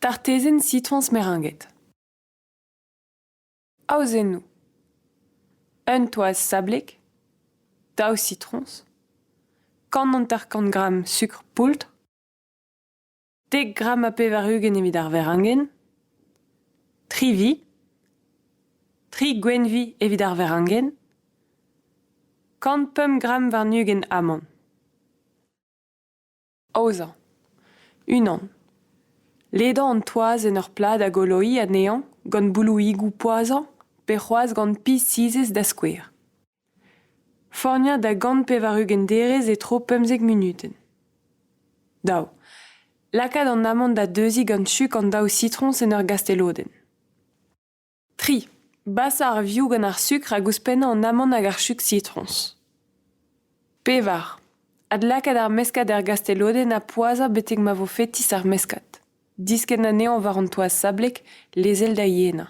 Tartezenn sitroñs meringed. Aozennoù. Un toaz sablek, daou sitroñs, kant hanter-kant gramm sukr poultr, dek gramm ha pevar-ugent evit ar verengen, tri vi, tri gwenvi evit ar verengen, kant pemp gramm warn-ugent amann. Aozañ. Unan. Ledañ an toaz en ur plad a goloiñ anezhañ gant boulouigoù poazhañ pe c'hoazh gant pizh sizhez da skouer. Forniañ da gant pevar-ugent derez e-tro pemzek munutenn. Daou. Lakaat an amant da deuziñ gant chug an daou sitroñs en ur gastelodenn. Tri. Basañ ar vioù gant ar sukr hag ouzhpennañ an amant hag ar chug sitroñs. Pevar. Adlakaat ar meskad er gastelodenn ha poazhañ betek ma vo fetis ar meskad. Diskenn anezhañ war an toaz sablek, lezel da yenañ.